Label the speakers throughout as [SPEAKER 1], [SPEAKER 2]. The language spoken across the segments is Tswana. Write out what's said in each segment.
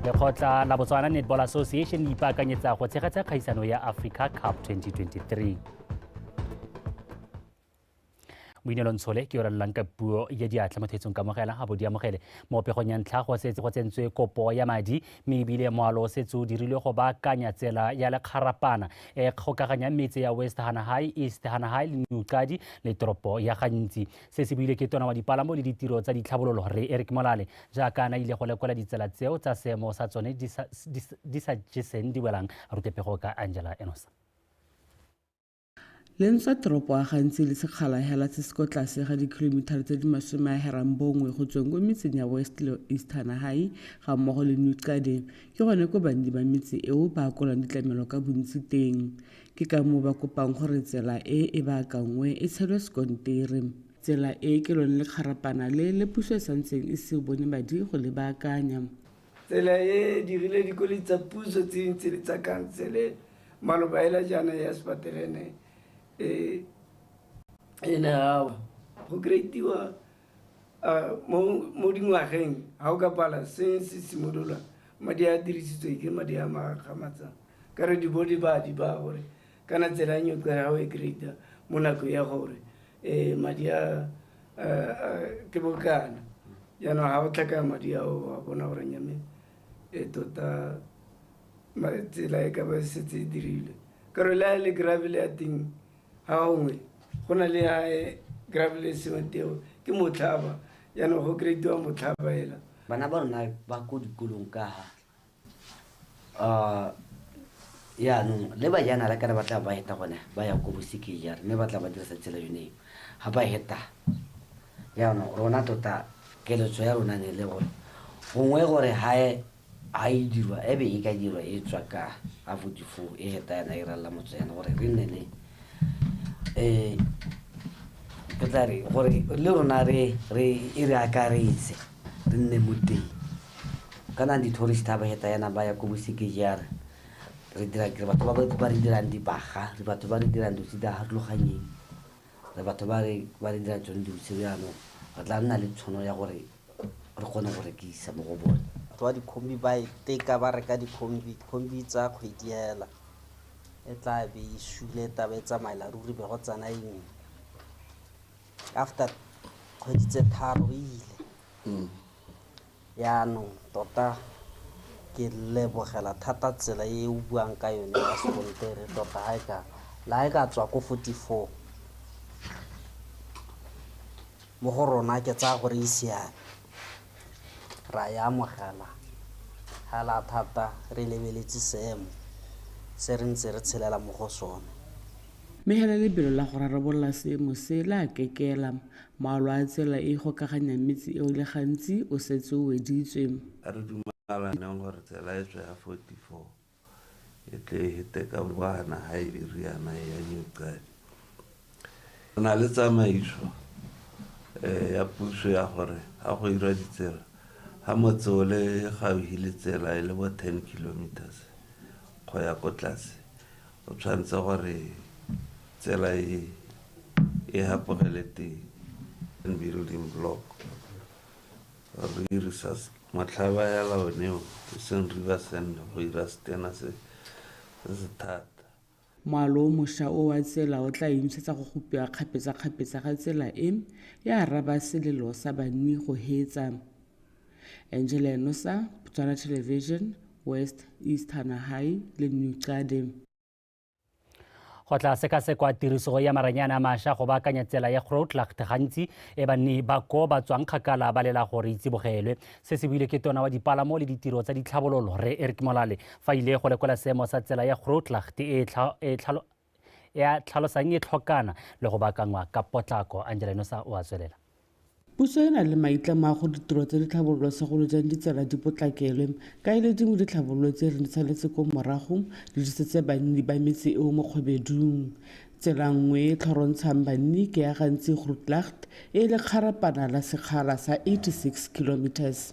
[SPEAKER 1] lekgotla la botswana netball association le ipaakanyetsa go tshegetsa kgaisano ya africa cup 2023 boinelo ntshole ke orelelang ka puo ya diatla mo thetsong kamogela ga bo di amogele mo pegong ya ntlha go setse go tsentswe kopo ya madi mme ebile moalo o setse o dirilwe go baakanya tsela ya lekgarapana e kgokaganya metse ya west hana high east hana high le neuqadi le toropo ya gantsi Se se buile ke tona wa dipalamo le ditiro tsa ditlhabololo Rre Eric Molale jaaka a na ile go lekola ditsela tseo tsa seemo sa tsone di sa jeseng di welang rutepego ka Angela Enosa.
[SPEAKER 2] Le ntswa toropo a gantsi le sekgala hela se se ko tlase ga dikilomithara tse di masome a herang bongwe go tsweng ko metseng ya West le East Hanahai ga mmogo le New Qade ke gone ko banni ba metse eo ba akolang ditlamelo ka bontsi teng Ke ka moo ba kopang gore tsela e e baakanngwe e tshelwe sekontere. Tsela e ke lone lekgarapana le le puso e santseng e se bone madi go le baakanya. Tsela e
[SPEAKER 3] dirile dikoloi tsa puso tse dintsi le tsa khansele maloba hela jaana ya sepaterene e ne ya wa. Go kreitiwa mo dingwageng ga o ka pala se se simolola madi a dirisitswe ke madi a magamatsang ka re di bo di ba di ba gore kana tsela e nyotlo ya gago e greata mo nakong ya gore um madi a ke bokana jaanong ga o tlhakaya madi ao a bona gore nyame e tota tsela e ka ba setse e dirilwe ka re le a le gravele ya teng Ga gongwe go na le ya graveless wa teo ke motlhaba jaanong go kry-tiwa motlhaba ela bana ba rona
[SPEAKER 4] ba ko dikolong ka ha uh, yaanong le bajanala kana ba tla ba heta gone ba ya ko bosekeng jare mme ba tla ba dirisa tsela yone eo ga ba heta yaanong rona tota keletso ya rona ne le gore gongwe gore gae A e dirwa e be e ka dirwa e tswa ka a votifo e heta yana e ralla motso yana gore re nne le eh ke tla re gore le rona re re e re akaretse re nne mo teng kana di-tourist ha ba heta yana ba ya ko bosekejara re dira kere batho ba ba re dirang dibaga re batho ba re dirang dilo tse di harologanyeng re batho ba re ba re dirang tsone dilo tse jaanong re tla nna le tshono ya gore re kgone go rekisa mo go bone batho ba dikhombi ba
[SPEAKER 5] e teka ba reka dikhombi khombi tsa kgwedi hela e tla be e sule taba e tsamaela ruri be go tsena engwe after kgwedi tse tharo e ile mm. yaanong tota ke lebogela thata tsela e o buang ka yone ya sekontere tota ga e ka la e ka tswa ko forty four Mo go rona ke tsaya gore e siame, ra e amogela hela thata re lebeletse seemo se re ntse re tshelela mo go sone. Mme hela
[SPEAKER 2] lebelo la go rarabolola seemo se le a kekela. Maalo a tsela e e gokaganyang metse eo le gantsi o setse o weditswe. A re dumalaneng
[SPEAKER 6] gore tsela e tswe ya 44 e tle e hete ka boana ha e riana e ya nyoqadi re na le tsamaiso um ya puso ya gore ga go irwa ditsela ga motse o le gaufi le tsela e le bo ten kilometers go ya ko tlase o tshwanetse gore tsela e e hapogele teng building block Ruri sa motlhaba ya laoneo e seng river sand go ira setena se se se thata.
[SPEAKER 2] Moalo o mosha o wa tsela o tla emisetsa go gopiwa kgapetsakgapetsa ga tsela e, ya araba selelo sa banni go heetsa. Angela Enosa, Botswana Television, West East Hanahai le New Qade.
[SPEAKER 1] go tla sekasekwa tiriso ya maranyane a masha go baakanya tsela ya growtlacht gantsi e banni ba ko ba tswang kgakala ba lela gore e tsibogelwe se se buile ke tona wa dipalamo le ditiro tsa ditlhabololo re eric molale fa ile go lekola seemo sa tsela ya growtlacht e, e, e tlhalosang e tlhokana le go baakangwa ka potlako angela nosa o a tswelela Puso e
[SPEAKER 2] na le maitlamo a gore ditiro tsa ditlhabololo segolo jang ditsela di potlakelwe, ka e le dingwe ditlhabololo tse re di saletse ko morago di disetse banni ba metse eo mo kgwebedung. Tsela nngwe e e tlhorontshang banni ke ya Gantsi-Grootlegt e e lekgarapana la sekgala sa 86 kilometres.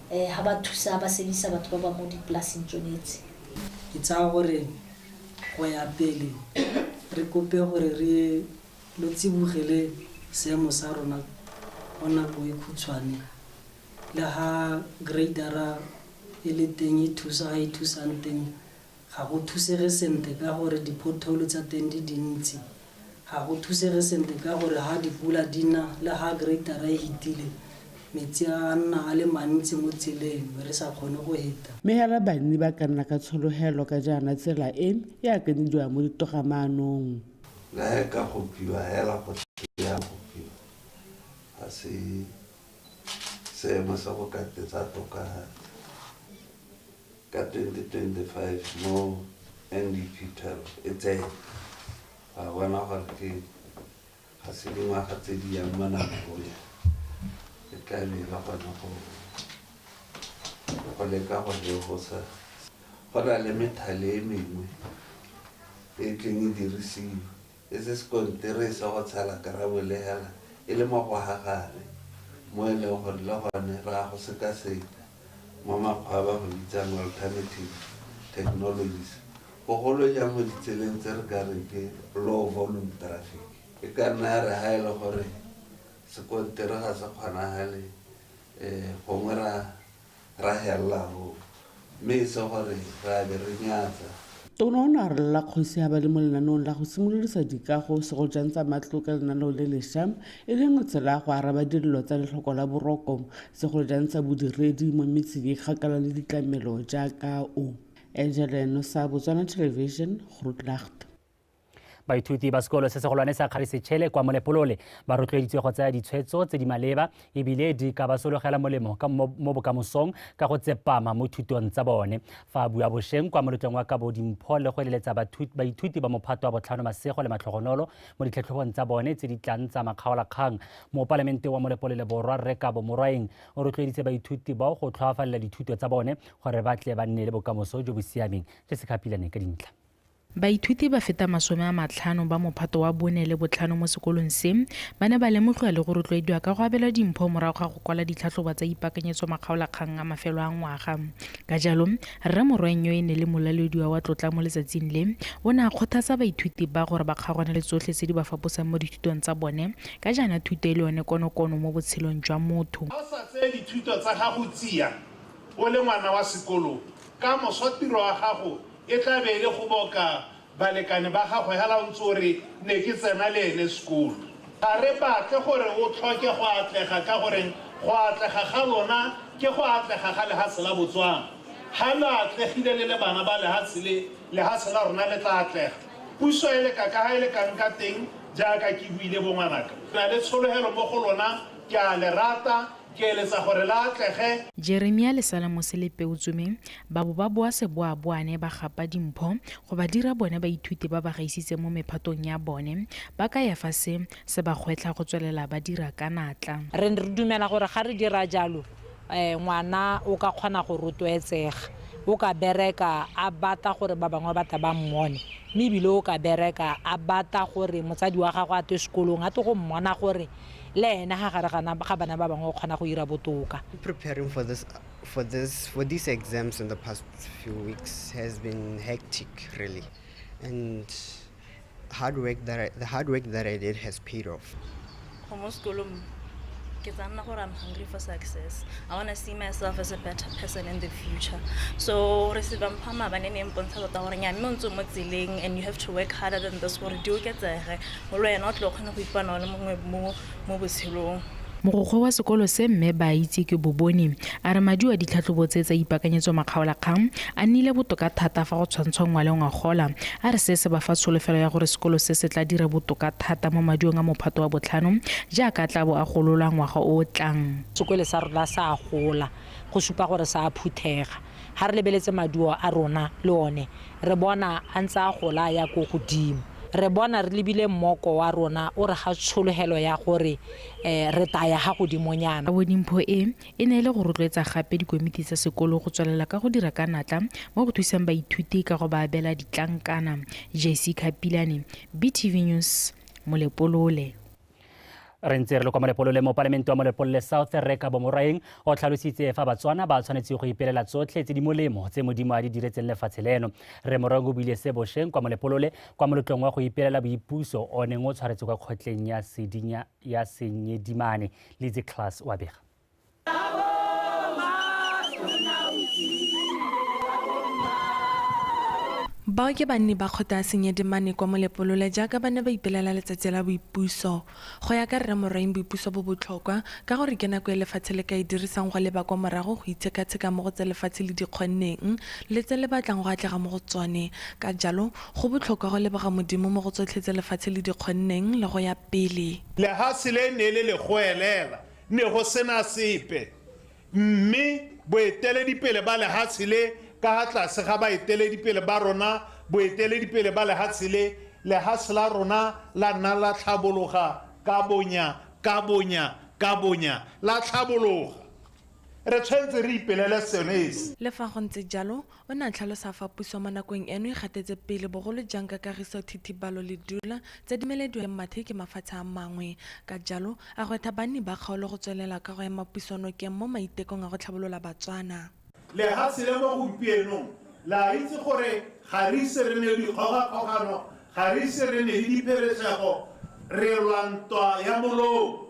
[SPEAKER 7] um ha ba thusa ba sebisa batho ba ba mo dipolaseng tsone tse ke tsaya
[SPEAKER 5] gore go ya pele re kope gore re lo tsibogele seemo sa rona go nako e khutshwane le ga gradera e le teng e thusa ga e thusang teng Ga go thusege sentle ka gore di-pothole tsa teng di dintsi. Ga go thusege sentle ka gore ha dipula di na le ha greater-ra e hitile, metsi a a nna a le mantsi mo tseleng be re sa kgone go heta. Mme hela banni ba
[SPEAKER 2] ka nna ka tshologelo ka jaana tsela e e akanyediwang mo ditogamaanong. Le ha e ka
[SPEAKER 6] gopiwa hela go tle ya gopiwa, ga se seemo sa go ka tetsa toka thata. Ka 2025 mo NDP 12 e tsene, ra bona gore ke ga se dingwaga tse di yang mo namegonya e tla be e le gone go go leka go legosa go na le methale e mengwe e tleng e dirisiwa E se sekontiri sa go tshela karabo le hela e le mo go ha gare, mo e leng gore le gone re a go sekaseka mo makgwa a ba go bitsang alternative technologies, bogolo jang mo ditseleng tse re ka reng ke low volume traffic. E ka nna ya re ha e le gore sekontiri ga se kgonagale, gongwe ra Ra hella ho me e se gore ra be re nyatsa. Tona o ne a
[SPEAKER 2] rolola kgosi ya ba le mo lenaneong la go simololisa dikago segojang tsa matlo ka lenaneo le lesha e le nngwe tsela ya go araba dilelo tsa letlhoko la boroko segolojang sa bodiredi mo metseng e kgakala le ditlamelo jaaka o Angeleno sa Botswana Television Grootlacht.
[SPEAKER 1] baithuti ba sekolo se segolwane sa kgarisetšhele kwa molepolole ba rotloeditswe go tsaya ditshwetso tse di maleba ebile di ka ba sologela molemo mo bokamosong ka go tsepama mo thutong tsa bone fa a bua bosheng kwa molotlong wa kabo dimpho le go eleletsa baithuti ba mophato wa botlhano masego le matlhogonolo mo ditlhatlhobong tsa bone tse di tlang tsa makgaolakgang mopalamente wa molepolole borwa rre kabo morwaeng o rotloeditse baithuti bao go tlhoafalela dithuto tsa bone gore ba tle ba nne le bokamoso jo bo siameng re se ka dintlha Baithuti ba
[SPEAKER 8] feta masome a matlhano ba mophato wa bone le botlhano mo sekolong se ba ne ba lemogiwa le go rotloediwa ka go abelwa dimpho morago ga go kwala ditlhatlhobo tsa ipakanyetso makgaolakgang a mafelo a ngwaga. Ka jalo, Rre Morweng yo e ne le molalodiwa wa tlotla mo letsatsing le, o ne a kgothatsa baithuti ba gore ba kgaogane le tsotlhe tse di ba faposang mo dithutong tsa bone ka jaana thuto e le yone konokono mo botshelong jwa motho. Ga o sa tseye dithuto
[SPEAKER 9] tsa gago tsia o le ngwana wa sekolo, ka moso tiro ya gago E tla be e le go boka balekane ba gagwe hala o ntse o re, Ne ke tsena le ene sekolo. Ga re batle gore o tlhoke go atlega ka gore go atlega ga lona ke go atlega ga lehatshe la Botswana. Ha lo atlegile le le bana ba lehatshe le, lehatshe la rona le tla atlega. Puso e leka kaha e lekang ka teng, jaaka ke buile bo ngwanaka. Ke na le tshologelo mo go lona, ke a le rata, Ke eletsa gore la atlege.
[SPEAKER 8] Jeremia le Salamose le Peutsome ba bo ba boa seboaboane ba gapa dimpho go ba dira bone baithuti ba ba gaisitseng mo mephatong ya bone, ba kaya fa se se ba gwetlha go tswelela ba dira ka natla. Re ne re dumela gore
[SPEAKER 10] ga re dira jalo, ngwana o ka kgona go rotloetsega, o ka bereka a bata gore ba bangwe ba tle ba mmone, mme ebile o ka bereka a bata gore motsadi wa gagwe a twe sekolong a twe go mmona gore le ena ga gare ga bana ba bangwe o kgona go ira botoka. Preparing
[SPEAKER 11] for this for this for these exams in the past few weeks has been hectic really and hard work that I, the hard work that I did has paid off. Go mo sekolong
[SPEAKER 12] ke tla nna gore I'm hungry for success. I want to see myself as a better person in the future. So re se ba mpha mabane ne mpontsha tota gore nya mme o ntse mo tseleng and you have to work harder than this gore di oketsege Go le wena o tle o kgone go ipana o le mongwe mo
[SPEAKER 8] mo botshelong. Mogokgo wa sekolo se mme Baaitseke Boboni a re madi wa ditlhatlhobo tse tsa ipakanyetso makgaolakgang a nnile botoka thata fa go tshwantshwa ngwale ngwagola a re se se ba fa tsholofelo ya gore sekolo se se tla dira botoka thata mo madiong a mophato wa botlhano jaaka a tla bo a gololwa ngwaga o o tlang sekole sa rona sa
[SPEAKER 10] gola go supa gore sa phuthega ga re lebeletse maduo a rona le one re bona a ntse a gola a ya ko godimo. Re bona re lebile mmoko wa rona o re ga tshologelo ya gore re tla ya ga godimonyana. Bonimpho e,
[SPEAKER 8] e ne e le go rotloetsa gape dikomiti tsa sekolo go tswelela ka go dira ka natla mo go thusang baithuti ka go ba abela ditlankana. JC Khapilane, BTV News, Molepolole.
[SPEAKER 1] re ntse re le kwa molepolole mo palamente wa molepolole south re ka bomorwaeng o tlhalositse fa batswana ba tshwanetse go ipelela tsotlhe tse di molemo tse modimo a di diretseng lefatshe leno re morwaeng o buile se bosheng kwa molepolole kwa molotlong wa go ipelela boipuso o neng o tshwaretse kwa kgotleng ya sedinya ya senyedimane litse class wa bega
[SPEAKER 13] Bao ke banni ba kgotla ya Senyedemane kwa Molepolole jaaka ba ne ba ipelela letsatsi la boipuso. Go ya ka Rre Morwaing boipuso bo botlhokwa ka gore ke nako e lefatshe le ka e dirisang go leba kwa morago go itshekatsheka mo go tse lefatshe le di kgonneng le tse le batlang go atlega mo go tsone. Ka jalo go botlhokwa go leboga Modimo mo go tsotlhe tse lefatshe le di kgonneng le go ya pele. Lehase le ne
[SPEAKER 9] le le goelela Ne go se na sepe, mme boeteledipele ba lehatshe le, ka ha tlase ga baeteledipele ba rona, boeteledipele ba lehatshe le, lehatshe la rona la nna la tlhabologa ka bonya, ka bonya, ka bonya, la tlhabologa. Re tshwanetse re ipelele sone se. Le fa go ntse jalo,
[SPEAKER 13] O ne a tlhalosa fa puso mo nakong eno e gatetse pele bogolo jang ka kagiso thithibalo le dula tse di melediwang le mathe ke mafatshe a mangwe. Ka jalo, a gwetha banni ba kgaolo go tswelela ka go ema puso nokeng mo maitekong a go tlhabolola Batswana. Lehatshe
[SPEAKER 9] la mo gompienong le a itse gore ga re ise re nne le dikgogakgogano, ga re ise re nne le dipheresego, re lwa ntwa ya molou.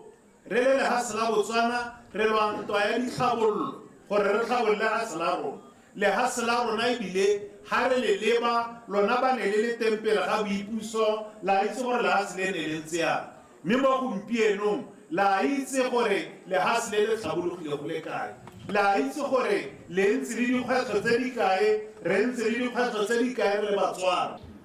[SPEAKER 9] Re le lehatshe la Botswana re lwa ntwa ya ditlhabololo gore re tlhabolle lehatshe la rona. Lehatshe la rona e bile ha re le leba lona ba ne le le teng pele ga boipuso la itse gore lehatshe le ne le ntse yang. Mme mo gompienong la itse gore lehatshe le le tlhabologile go le kae. La itse gore le ntse le dikgwetlho tse di kae, re ntse le dikgwetlho tse di kae re le Batswana.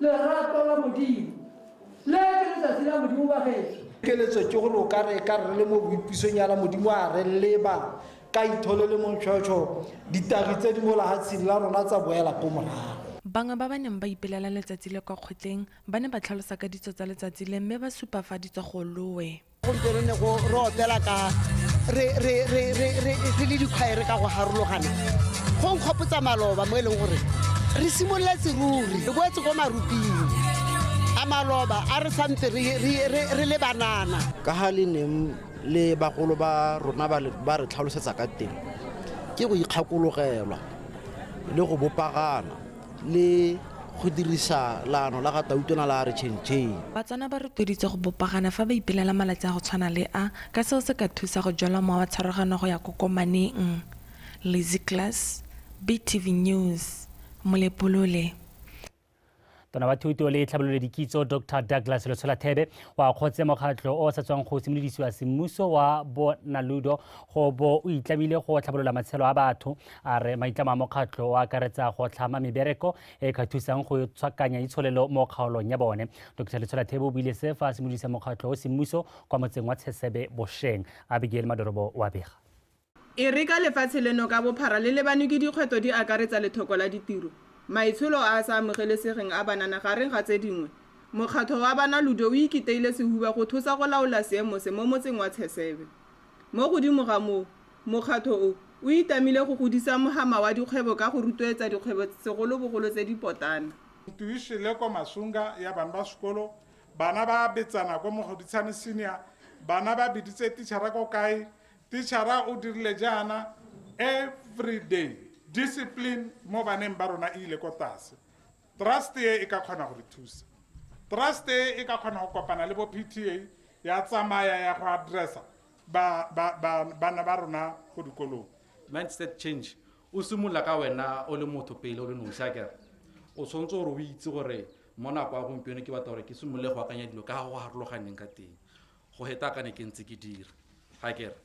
[SPEAKER 14] lerato la modimo le ke letsatsi la modimo ba geso keletso ke gore o
[SPEAKER 15] ka re ka re le mo boipisong yana modimo a re leba ka ithole le montšhotšho ditagi tse di mo lahatsheng la rona tsa boela ko morago Bangwe ba ba neng ba
[SPEAKER 13] ipelela letsatsi le kwa kgotleng ba ne ba tlhalosa ka ditso tsa letsatsi le mme ba supa fa di tswa go loe. gompieno ne go
[SPEAKER 16] re opela ka re le dikgwaere ka go harologana go nkgopotsa maloba mo e leng gore re simolola seruri re boetse ko maruping a maloba a re santse re le banana ka ga le neng
[SPEAKER 15] le bagolo ba rona ba re tlhalosetsa ka teng ke go ikgakologelwa le go bopagana le go dirisa laano la ga Tautona la Re Chentšheng. Batswana ba rotloeditse
[SPEAKER 13] go bopagana fa ba ipelela malatsi a go tshwana le a ka seo se ka thusa go jwala mowa wa tshwaragano go ya kokomaneng. Lizzy Class, BTV News, Molepolole.
[SPEAKER 1] Tona wa Thuto le Tlhabololo Dikitso, Doctor Douglas Letshola Thebe, o akgotse mokgatlho o o sa tswang go simolodisiwa semmuso wa Bonaludo go bo o itlamile go tlhabolola matshelo a batho, A re maitlamo a mokgatlho o akaretsa go tlhama mebereko e ka thusang go tshwakanya itsholelo mo kgaolong ya bone. Dr Letsholathebe o buile se fa a simolodisa mokgatlho o semmuso kwa motseng wa Tshesebe bosheng. Abigail Madorobo wa bega. E re ka
[SPEAKER 17] lefatshe leno ka bophara le lebanwe ke dikgwetlho di akaretsa lethoko la ditiro, maitsholo a a sa amogelesegeng a banana gareng ga tse dingwe. Mokgatlho wa Bana Ludo o ikiteile sehuba go thusa go laola seemo se mo motseng wa Tshesebe. Mo godimo ga moo, Mokgatlho o, o itamile go godisa mohama wa dikgwebo ka go rotloetsa dikgwebo segolobogolo tse di potlana. Ntwa e šele kwa
[SPEAKER 9] Masunga ya bana ba sekolo, Bana ba betsana kwa Mogoditshane Senior, Bana ba biditse tichara ko kae, Tichara o dirile jaana, Everyday discipline mo baneng ba rona e ile ko tlase. Trust e e ka kgona go re thusa. Trust e e ka kgona go kopana le bo PTA ya tsamaya ya go address-a ba ba ba bana ba rona go dikolong mindset change
[SPEAKER 18] o simolola ka wena o le motho pele o le nosi a kere o tshwanetse gore o itse gore mo nako ya gompieno ke batla gore ke simolole go akanya dilo ka ga go harologaneng ka teng go heta ka ne ke ntse ke dira ga kere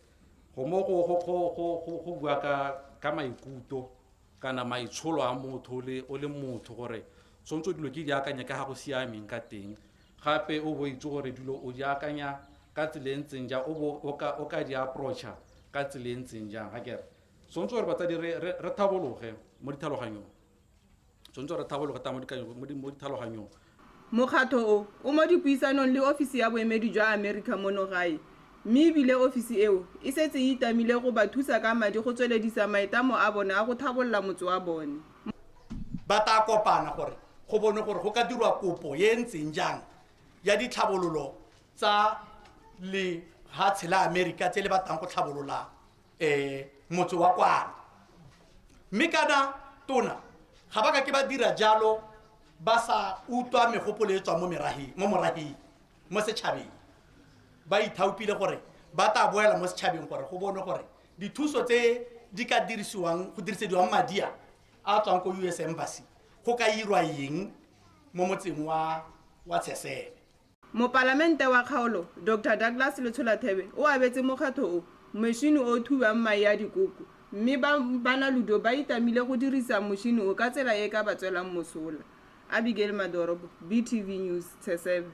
[SPEAKER 18] go mo go go go go go go bua ka ka maikuto kana maitsholo a motho o le motho gore tshwanetse dilo ke di akanya ka ga go siameng ka teng gape o bo itse gore dilo o di akanya ka tsela e ntseng jang o bo o ka di approacha ka tsela e ntseng jang ga kere tshwanetse gore batsadi re tlhabologe mo ditlhaloganyong tshwanetse re tlhabologe ta mo ditlhaloganyong Mokgatlho
[SPEAKER 17] o, o mo dipuisanong le ofisi ya boemedi jwa Amerika mono gae, mme e bile ofisi eo e setse e itamile go ba thusa ka madi go tsweledisa maitlamo a bone a go tlhabolola motse wa bone. Ba
[SPEAKER 19] taa kopana gore go bonwe gore go ka dirwa kopo e e ntseng jang ya ditlhabololo tsa lehatshe la Amerika tse le batlang go tlhabololang. um motse wa kwana mme kana tona ga ba ka ke ba dira jalo ba sa utlwa megopolo e tswang mo merageng mo morageng mo setšhabeng ba ithaopile gore ba tla boela mo setšhabeng gore go bone gore dithuso tse di ka dirisiwang go dirisediwang madi a a tswang ko us embassy go ka irwa eng mo motseng wa wa tshesele Mopalamente
[SPEAKER 17] wa kgaolo, Doctor Douglas Letshola Thebe o abetse mokgatlho o mošini o o thubiwang mae a dikoko mme ba Banaludo ba itamile go dirisa mošini o ka tsela e e ka ba tswelang mosola. Abigail Madoropo, BTV News, Tshesewe.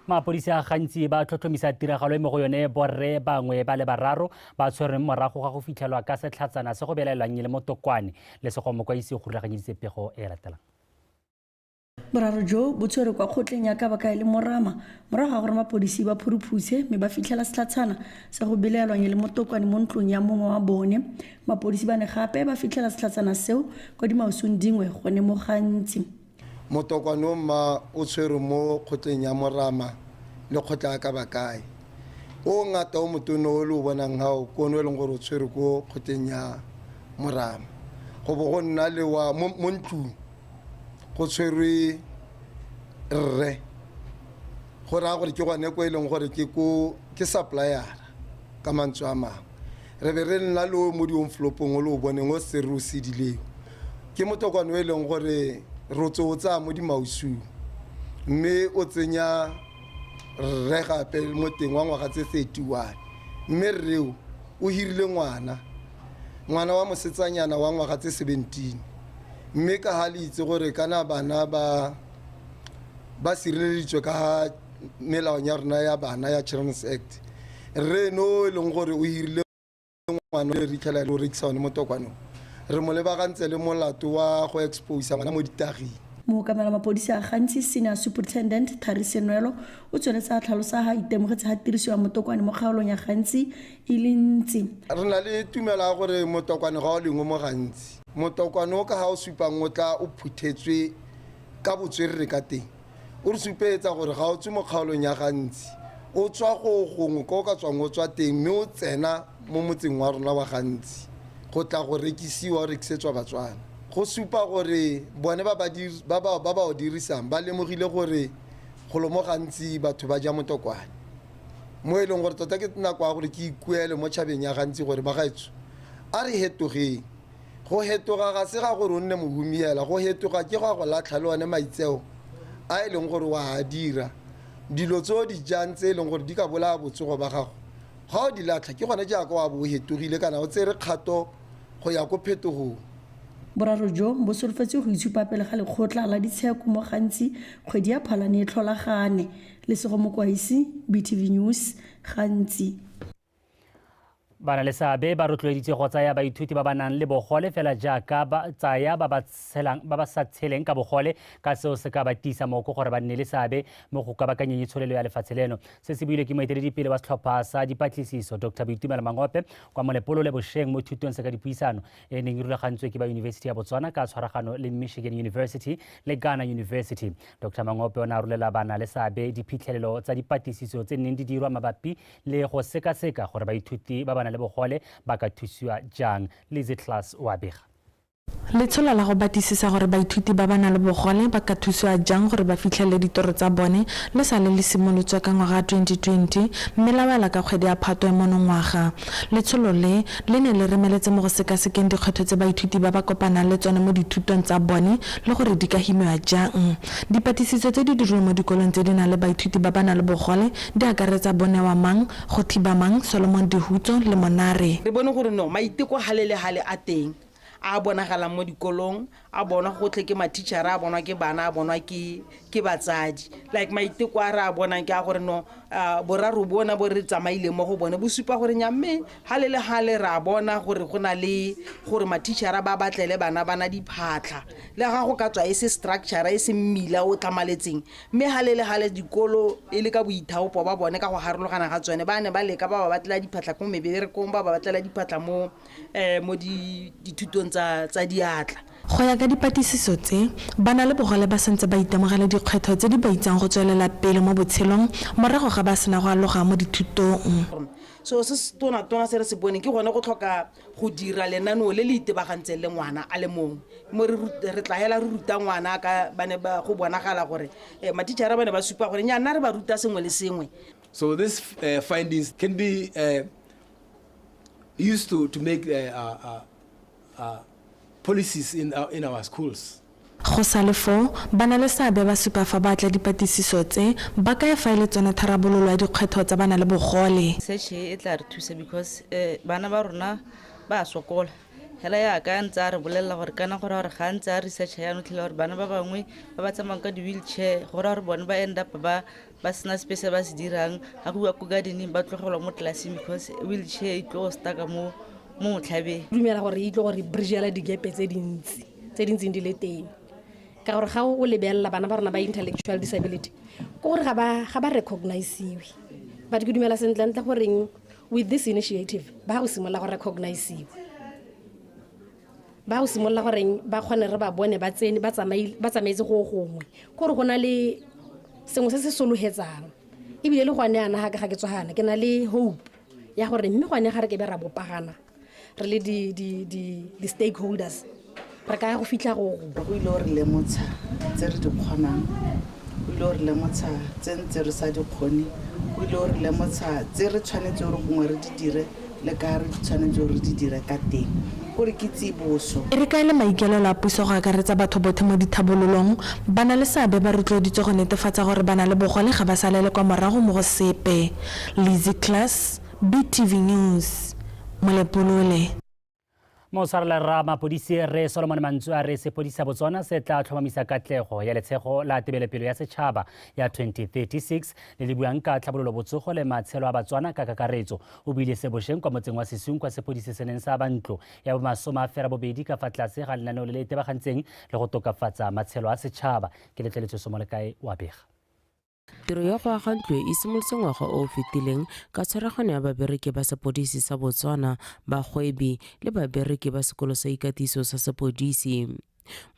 [SPEAKER 1] Mapodisa gantsi ba tlhotlhomisa tiragalo e mo go yone borre bangwe ba le bararo ba tshwerweng morago ga go fitlhelwa ka setlhatsana se go belaelwang le motokwane. Lesego Mokwaisi o rulaganyeditse pego e latelang.
[SPEAKER 20] Boraro jo bo tshwerwe kwa kgotleng ya Kabaka e le Morama morago ga gore mapodisi ba phuruphutse mme ba fitlhela setlhatshana sa go belaelwang e le motokwane mo ntlong ya mongwe wa bone. Mapodisi ba ne gape ba fitlhela setlhatshana seo kwa dimausung dingwe gone mo Gantsi. Motokwane
[SPEAKER 21] o mma o tshwerwe mo kgotleng ya Morama le kgotla ya Kabakae. O o ngata o motona o le o bonang ga o ke one o e leng gore o tshwerwe ko kgotleng ya Morama go bo go nna le wa mo ntlong go tshwerwe rre go raya gore ke gone ko e leng gore ke ko ke suppliera ka mantswe a mangwe re be re nna le o mo dionflopong o le o boneng o se re o sedileng ke motokwane o e leng gore rotse o tsaya mo dimausung mme o tsenya rre gape mo teng wa ngwaga tse thirty one mme rreo o hirile ngwana ngwana wa mosetsanyana wa ngwaga tse seventeen mme ka ga le itse gore kana bana ba ba sireleditswe ka melaong ya rona ya bana ya children's act re no e leng gore o hirile ngwana re ritlhela le o rekisa one mo tokwanong re mo lebagantse le molato wa go exposa ngwana mo ditaging mookamela mapodisi
[SPEAKER 20] a gantsi senior superintendent thari senwelo o tsweletse a tlhalosa ga itemogetse ga tiriso ya motokwane mo kgaolong ya gantsi e le ntsi re na le
[SPEAKER 21] tumelo ya gore motokwane ga o lengwe mo gantsi Motokwane o ka ga o supang o tla o phuthetswe ka botswerere ka teng, o re supeetsa gore ga o tswe mo kgaolong ya ga Ntsi, o tswa go gongwe ko o ka tswang o tswa teng mme o tsena mo motseng wa rona wa ga Ntsi go tla go rekisiwa, o rekisetswa Batswana. Go supa gore bone ba ba o dirisang ba lemogile gore golo mo ga Ntsi batho ba ja motokwane. mo e leng gore tota ke nako ya gore ke ikuele mo tšhabeng ya gantsi gore ba gaetso a re hetogeng go hetoga ga se ga gore o nne mohumiela go hetoga ke go a go latlha le one maitseo a e leng gore wa a dira dilo tse o di jang tse e leng gore di ka bolaya botsogo ba gago ga o di latlha ke gone jaaka wa bo o hetogile kana o tsere kgato go ya ko phetogong boraro
[SPEAKER 20] jo bo solofetse go itshupa pele ga lekgotla la ditsheko mo gantsi kgwedi ya phalane e tlholagane Lesego Mokwaisi, BTV News, gantsi.
[SPEAKER 1] Ba na le seabe ba rotloeditswe go tsaya baithuti ba ba nang le bogole fela jaaka ba tsaya ba ba sa tsheleng ka bogole ka seo se ka ba tiisa moko gore ba nne le seabe mo go kabakanyeng itsholelo ya lefatshe leno. Se se buile ke moeteledipele wa setlhopha sa dipatlisiso Dr Boitumelo Mangope kwa Molepolole bosheng mo thutong se ka dipuisano e neng e rulagantswe ke ba Yunibesithi ya Botswana ka tshwaragano le Michigan University le Ghana University. Dr Mangope o ne a rolela bana le seabe diphitlhelelo tsa dipatlisiso tse neng di dirwa mabapi le go sekaseka gore baithuti ba ba nang le bogole ba ka thusiwa jang. Lizzy Class o a bega. Letsholo
[SPEAKER 13] la go batlisisa gore baithuti ba ba nang le bogole ba ka thusiwa jang gore ba fitlhelele ditoro tsa bone le sale le simolotswe ka ngwaga wa 2020 mme la wela ka kgwedi ya Phatwe monongwaga. Letsholo le, le ne le remeletse mo go sekasekeng dikgwetlho tse baithuti ba ba kopanang le tsone mo dithutong tsa bone le gore di ka himiwa jang. Dipatisiso tse di dirilweng mo dikolong tse di nang le baithuti ba ba nang le bogole di akaretsa Bonewa Mang, Go Thiba Mang,
[SPEAKER 22] Solomon Dihutso
[SPEAKER 13] le
[SPEAKER 22] Monare.
[SPEAKER 13] Re
[SPEAKER 22] bone gore
[SPEAKER 13] no
[SPEAKER 22] maiteko gale le gale
[SPEAKER 13] a
[SPEAKER 22] teng a
[SPEAKER 3] a bonagalang mo dikolong, a bonwa gotlhe ke mathichara, a bonwa ke bana, a bonwa ke ke batsadi. Like maiteko a re a bonang ke a gore no boraro bona bo re tsamaileng mo go bone bo supa gore nya mme Gale le gale re a bona gore go na le gore mathišara ba batlele bana bana diphatlha le ga go ka tswa e se structure e se mmila o tlamaletseng mme gale le gale dikolo e le ka boithaopo ba bone ka go harologana ga tsone ba ne ba leka ba ba batlela diphatlha ko meberekong ba ba batlela diphatlha mo um mo dithutong tsa diatla. Go ya ka
[SPEAKER 13] dipatlisiso tse, bana le bogole ba santse ba itemogela dikgwetlho tse di ba itsang go tswelela pele mo botshelong morago ga ba sena go aloga mo dithutong. seo se se
[SPEAKER 3] tonatona se re se boneng ke gone go tlhoka go dira lenaneo le le itebagantseng le ngwana a le mongwe mo re tla hela re ruta ngwana ka ba ne ba go bonagala gore um mathichara ba ne ba supa gore nyana re ba ruta sengwe le sengwe So these
[SPEAKER 22] uh, findings can be uh, used to, to make uh, uh, Go sa le
[SPEAKER 13] foo, banaleseabe ba supa fa ba tla dipatlisiso tse ba kae fa e le tsone tharabololo ya dikgwetlho tsa bana le bogole. Search e e tla re
[SPEAKER 23] thusa because bana ba rona ba a sokola, hela yaka a ntse a re bolelela gore kana go raya gore ga a ntse a research yana o tlhela gore bana ba bangwe ba ba tsamayang ka di-wheelchair go raya gore bone ba end up ba ba sena sepe se ba se dirang ga go bua ko gardening ba tlogelwa mo tlelaseng because wheelchair e tlo staka mo mo motlhabeng dumela gore e itlo
[SPEAKER 24] gore bridgela digepe tse dintsi tse di ntseng di le teng ka gore ga o lebelela bana ba rona ba intellectual disability ko gore ga ba recognisiwe but ke dumela sentlentle goreng with this initiative ba go simolola go recognisiwa ba go simolola goreng ba kgone re ba bone ba tsene ba tsamaetse go gongwe kore go na le sengwe se se sologetsang ebile le gone yana gake ga ke tswagana ke na le hope ya gore mme gone ga re ke be ra bopagana re le di-stakeholders re ka ya go fitlha go o ile o re lemotsha
[SPEAKER 3] tse re di kgonang o ile o re lemotsha tse ntse re sa di kgone o ile o re lemotsha tse re tshwanetse gore gongwe re di dire Le ka re tshwanetse gore re di dire ka teng gore ke tsiboso. E re kaele maikaelelo
[SPEAKER 13] a puso go akaretsa batho bothe mo dithabololong. Ba na le seabe ba rotloeditswe go netefatsa gore ba na le bogole ga ba salele kwa morago mo go sepe. Lizzy Klass, BTV News, Molepolole.
[SPEAKER 1] Motshwarela rra mapodisi re Solomon Mantsu a re sepodisa Botswana se tla tlhomamisa katlego ya letshego la tebelopelo ya setšhaba ya 2036 le le buang ka tlhabololo botsogo le matshelo a Batswana ka kakaretso. O buile se bosheng kwa motseng wa Sesung kwa sepodisi se neng sa ba ntlo ya bomasome a fera bobedi ka fa tlase ga lenaneo le le itebagantseng le go tokafatsa matshelo a setšhaba. Ke letleletswe Somolekae wa bega. Tiro ya
[SPEAKER 25] go aga ntlo e simolotse ngwaga o o fetileng ka tshwaragano ya babereki ba sepodisi sa Botswana, bagwebi le babereki ba sekolo sa ikatiso sa sepodisi.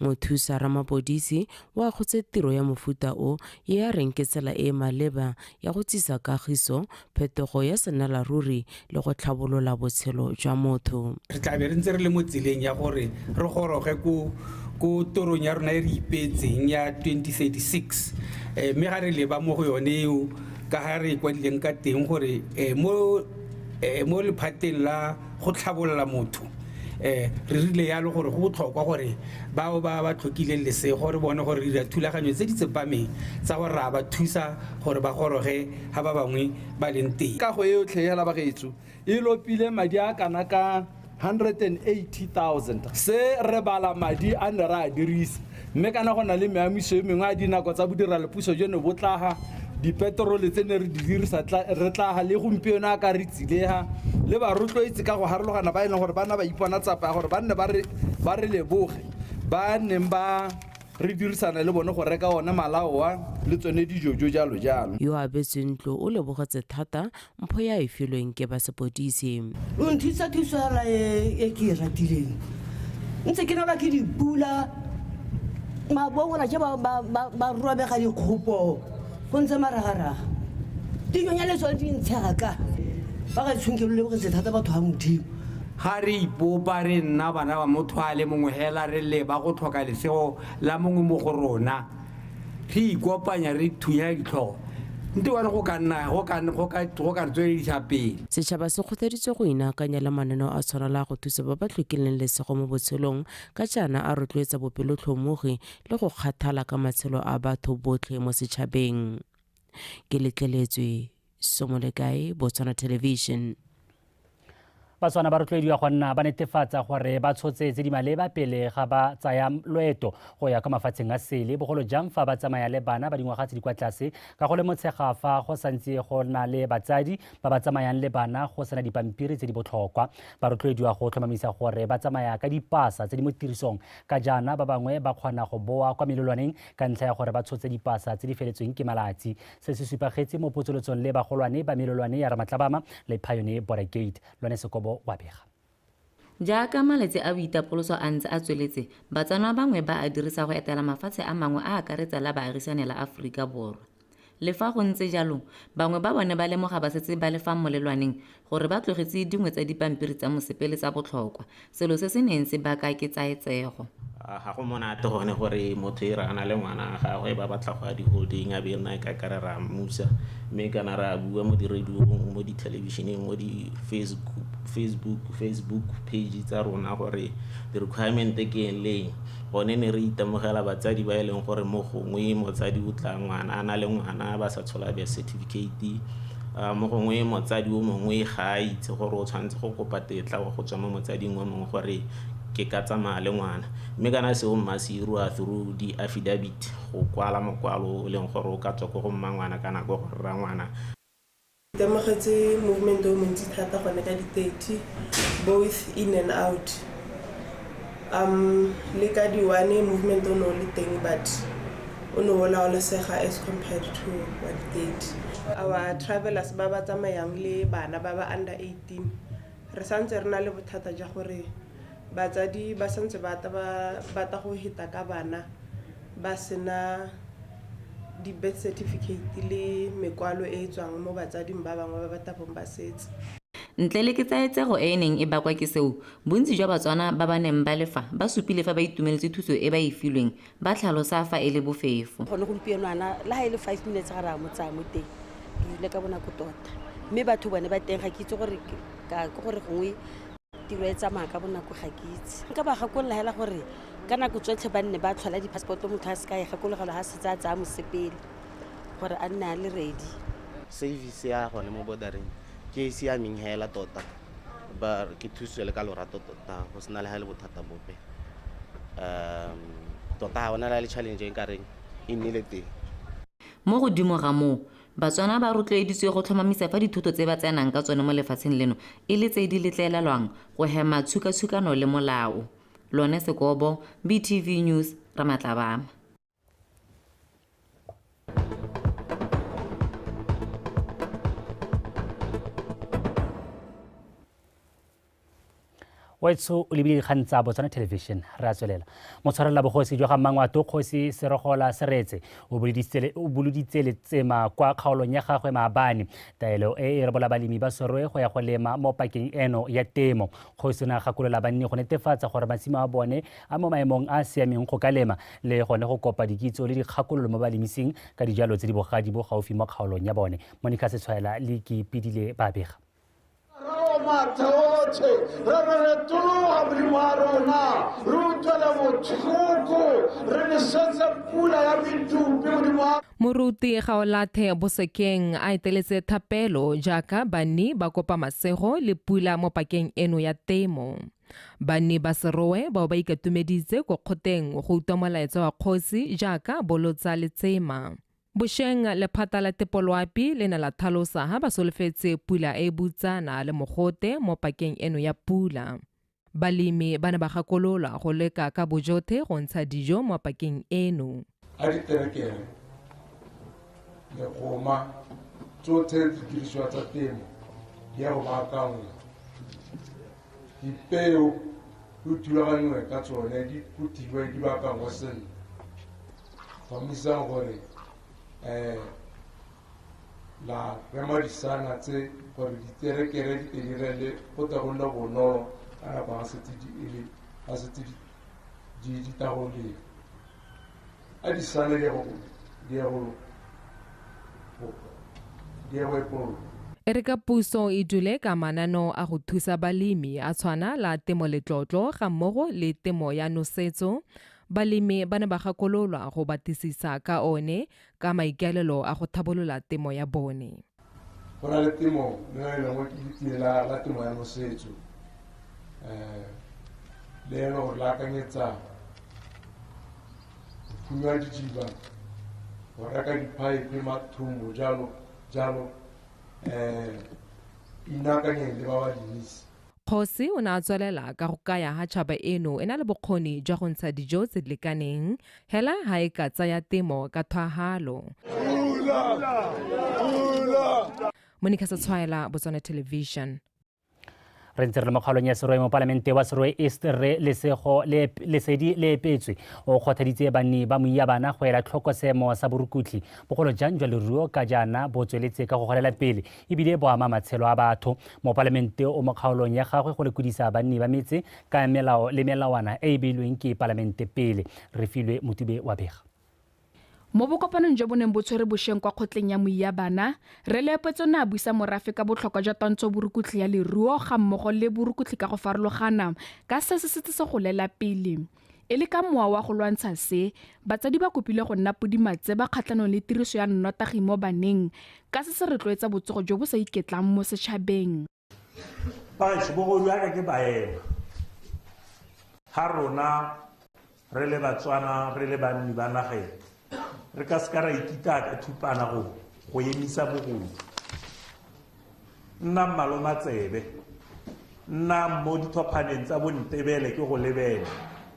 [SPEAKER 25] Mothusa ramapodisi o akgotse tiro ya mofuta o e a reng ke tsela e e maleba ya go tsisa kagiso phetogo ya senalaruri le go tlhabolola botshelo jwa motho. Re tla be re ntse re le
[SPEAKER 26] mo tseleng ya gore re goroge ko ko torong ya rona e re ipeetseng ya 2036 eh, mme ga re leba mo go yone eo ka ga re e kwadileng ka teng gore eh, mo eh, mo lephateng la go tlhabolola motho um re rile yalo gore go botlhokwa gore bao ba ba tlhokileng lesego re bone gore re dira thulaganyo tse di tsepameng tsa gore ra ba thusa gore ba goroge ga ba bangwe ba leng teng kago e yotlhe ya labagetso
[SPEAKER 22] e lopile madi a kana ka 180000 se re bala madi a ne re a dirisa mme kana go na le meamiso e mengwe a dinako tsa bodiralepuso jo ne bo tlaga dipeterole tse ne re di dirisa re tlaga le gompieno a ka re tsilega le ba rotloetse ka go harologana ba e leng gore ba na ba ipona tsapa ya gore ba nne ba re leboge ba neng ba re dirisana le bone go reka one malaoa le tsone dijojo jalo jalo yo a abetsweng ntlo
[SPEAKER 25] o lebogetse thata mpho ya e filweng ke ba sepodisi o nthusa
[SPEAKER 27] thuso yana e, e ke e ratileng ntse ke nola ke dipula mabongona je ba robega dikgopo go ntse maragaraga dinyonya le tsone di ntshega ka ba ka tshweng ke lo lebogetse thata batho ga modimo ga re
[SPEAKER 28] ipopa re nna bana ba motho a le mongwe hela re leba go tlhoka lesego la mongwe mo go rona re ikopanya re thunya ditlhogo nte wa re go ka nna go ka go ka go ka re tsweledisa pele Setšhaba se kgothaditswe
[SPEAKER 25] go inaakanya le mananeo a tshwana le a go thusa ba ba tlhokileng lesego mo botshelong ka jaana a rotloetsa bopelotlhomogi le go kgathala ka matshelo a batho botlhe mo setšhabeng. Ke letleletswe somo le kae botswana television
[SPEAKER 1] batswana ba rotloediwa go nna ba netefatsa gore ba tshotse tse di maleba pele ga ba tsaya loeto go ya kwa mafatsheng a sele bogolo jang fa ba tsamaya le bana ba dingwaga tse di kwa tlase ka go le motshega fa go santse go na le batsadi ba ba tsamayang le bana go sena dipampiri tse di botlhokwa ba rotloediwa go tlhomamisa gore ba tsamaya ka dipasa tse di mo tirisong ka jaana ba bangwe ba kgona go boa kwa melolwaneng ka ntlha ya gore ba tshotse dipasa tse di feletsweng ke malatsi se se supagetse mo potsolotsong le bagolwane ba melolwane ya ramatlabama le payone border gate lone sekobo wa bega Jaaka
[SPEAKER 2] malatsi a boitapoloso a ntse a tsweletse, Batswana bangwe ba a dirisa go etela mafatshe a mangwe a akaretsa la baagisane la Aforika Borwa. Le fa go ntse jalo, bangwe ba bone ba lemoga ba setse ba le fa molelwaneng gore ba tlogetse dingwe tsa dipampiri tsa mosepele tsa botlhokwa, selo se se neng se baka ketsaetsego. Ga go monate
[SPEAKER 4] gone gore motho e re a na le ngwana wa gagwe ba batla go a di-holding a be nna ka kare re a mmusa mme kana re a bua mo di-radio-ong mo dithelebišeneng mo di-facebook facebook facebook page tsa rona gore di-requirement ke eng le eng gone ne re itemogela batsadi ba e leng gore mo gongwe motsadi o tla ngwana a na le ngwana ba sa tshola birth certificate Mo gongwe motsadi o mongwe ga a itse gore o tshwanetse go kopa tetla wa go tswa mo motsading o mongwe gore ke ka tsamaya le ngwana mme kana seo mma se irwa through di-affidavit go kwala mokwalo o leng gore o ka tswa ko go mma ngwana kana ko go rra ngwana. Ke itemogetse
[SPEAKER 17] movement o montsi thata gone ka di-thirty both in and out. Um le ka di one movement o ne o le teng but o ne o laolesega as compared to wa di thirty. Our travelers ba ba tsamayang le bana ba ba under eighteen re santse re na le bothata ja gore batsadi ba santse ba ta ba batla go heta ka bana ba sena di birth certificate le mekwalo e e tswang mo batsading ba bangwe ba ba tabong ba setse. Ntle le
[SPEAKER 2] ketsaetsego e e neng e bakwa ke seo, Bontsi jwa Batswana ba ba neng ba le fa ba supile fa ba itumeletse thuso e ba e filweng ba tlhalosa fa e le bofefo. Gone gompieno ana
[SPEAKER 27] le ga e le five minutes ga re a mo tsaya mo teng, re rile ka bonako tota. Mme batho bone ba teng ga ke itse gore ka ke gore gongwe tiro e tsamaya ka bonako ga ke itse. Nka ba gakolola hela gore ka nako tsotlhe ba nne ba tlhola di-passport-o motho a se ka e gakologelwa ga setse a tsaya mosepele gore a nne a le ready. Service ya
[SPEAKER 5] gone mo border-eng ke e e siameng hela tota. ba ke thusiwe le ka lorato tota go sena le ga e le bothata bope um tota ga ona la le challenge e kareng e nnile teng mo
[SPEAKER 2] godimo ga moo batswana ba rotloeditswe go tlhomamisa fa dithuto tse ba tsenang ka tsone mo lefatsheng leno e le tse di letlelelwang go hema tshukatshukano le molao lone sekobo btv news ramatlabama
[SPEAKER 1] wetso o lebile dikgang tsa botswana television re a tswelela motshwarelela bogosi jwa ga mmangwato kgosi serogola seretse o boloditse letsema kwa kgaolong ya gagwe maabane taelo e e rebola balemi ba sorwe go ya go lema mo pakeng eno ya temo kgosi o ne a gakolola banni go netefatsa gore masimo a bone a mo maemong a a siameng go ka lema le gone go kopa dikitso le dikgakololo mo balemising ka dijalo tse di bogadi bo gaufi mo kgaolong ya bone monica setshwaela le kipidile ba bega mathaotlhe re re retologa modimo wa rona re utlwele
[SPEAKER 6] botlhoko re lesetse pula ya medupi modimo wa moruti gaolathe bosekeng a eteletse thapelo jaaka banni ba kopa masego le pula mo pakeng eno ya temo Banni ba Serowe bao ba ikatumeditse ko kgoteng go utlwa molaetsa wa kgosi jaaka bolotsa letsema. Bosheng lephata la tepoloapi le ne la thalosa ha ba solofetse pula e e butsana le mogote mo pakeng eno ya pula. Balemi ba ne ba gakololwa go leka ka bojothe go ntsha dijo mo pakeng eno. a diterekere
[SPEAKER 7] legoma tsotlhe didirisiwa tsa temo di ya go baakangwa dipeo di thulaganngwe ka tsone di phuthiwe di baakangwa sentle tlhomamisang gore um la rema disana tse gore diterekere di tedirele go tla go nna bonolo ka nako ga setse di tagoleng Adi sane dia go dia go dia go epolo. E re ka
[SPEAKER 6] puso e dule ka mananeo a go thusa balemi a tshwana la temo letlotlo ga mmogo le temo ya nosetso balemi ba ne ba gakololwa go batlisisa ka one ka maikaelelo a go thabolola temo ya bone Go
[SPEAKER 7] na le temo le yone e lengwe
[SPEAKER 6] ke
[SPEAKER 7] letie la temo ya nosetso um le ene gore le akanyetsa go phunya didiba go reka di-pipe mathomo jalo jalo um inakanyeng le ba ba dirise Kgosi o ne a
[SPEAKER 6] tswelela ka go kaya ha tšhaba eno e na le bokgoni jwa go ntsha dijo tse di lekaneng hela ha e ka tsaya temo ka thwahalo. Monica Setshwaela, Botswana Television.
[SPEAKER 1] re ntse re le mo kgaolong ya seroe mo palamente wa seroe east re lesego lesedi le epetswe o kgothaditse banni ba moia bana go ela tlhoko seemo sa borukutlhi bogolo jang jwa leruo ka jaana bo tsweletse ka go golela pele ebile bo ama matshelo a batho mopalamente o mo kgaolong ya gagwe go lekodisa banni ba metse ka melao le melawana e e beilweng ke palamente pele re filwe motube wa bega mo
[SPEAKER 8] bokopanong jo bo neng bo tshwere bosheng kwa kgotleng ya moiya bana re leopetso ne a buisa morafe ka botlhokwa jwa twantsho borukutlhi ya leruo ga mmogo le borukutlhi ka go farologana ka se se setse se golela pele E le ka mowa wa go lwantsha se, batsadi ba kopilwe go nna podimatse ba kgatlhanong le tiriso ya nnotagi mo baneng ka se se retloetsa botsogo jo bo sa iketlang mo setšhabeng.
[SPEAKER 9] Batsho bogolo yaka ke baema ga rona re le Batswana re le banni ba nageng. re ka seka ra ikita ka thupana go go emisa bogodu nna mmalo matsebe nna mo dithophaneng tsa bontebele ke go lebele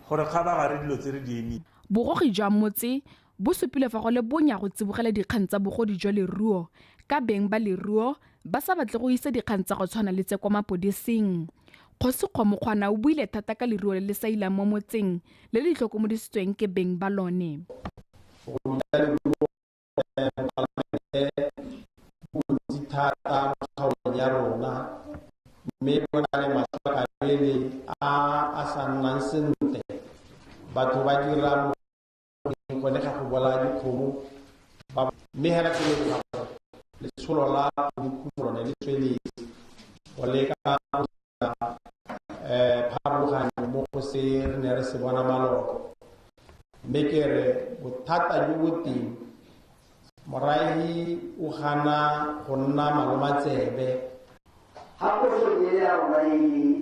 [SPEAKER 9] gore ga ba gare dilo tse re di emile bogogi jwa motse
[SPEAKER 8] bo supile fa go le bonya go tsibogela dikgang tsa bogodi jwa leruo ka beng ba leruo ba sa batle go isa dikgang tsa go tshwana le tse kwa mapodising kgosi kgomokgwana o buile thata ka leruo le le sa ilang mo motseng le le tlhokomodisitsweng ke beng ba lone
[SPEAKER 21] thata mo kgaolong ya rona mme go na le matlhakabele a a sa nnang sentle batho ba dira go ne ga go bolaya dikgomo mme hela ke le ga letsholo la bokhutso lone le tsweletse go leka um eh, pharologanyo mo go se re ne re se bona maloko mme ke re bothata jo bo teng morahi o gana go nna malomatsebe ga
[SPEAKER 10] go se ya rona e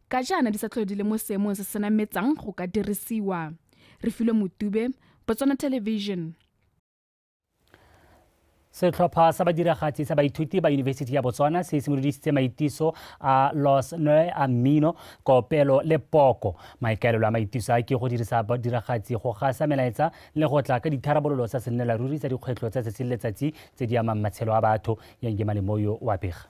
[SPEAKER 8] ka jaana di sa tlhole di le mo seemong se se nametsang go ka dirisiwa re filwe motube botswana television
[SPEAKER 1] setlhopha sa badiragatsi sa baithuti ba yunibesithi ya botswana se simolodisitse maitiso a los noe a mmino kopelo le poko maikaelelo a maitiso a ke go dirisa badiragatsi go gasa melaetsa le go tla ka ditharabololo tsa sennela ruri tsa dikgwetlho tsa tsatsi le letsatsi tse di amang matshelo a batho yangemanemoyo wa bega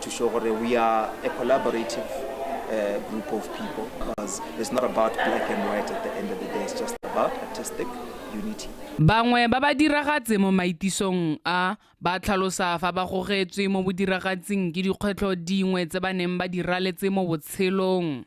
[SPEAKER 15] to show gore we are a collaborative uh, group of people because it's not about black and white at the end of the day it's just about artistic unity Bangwe ba ba
[SPEAKER 8] diragatse mo maitisong a ba tlhalosa fa ba gogetswe mo bodiragatsing ke dikgwetlho dingwe tse ba neng ba di raletse mo
[SPEAKER 16] botshelong.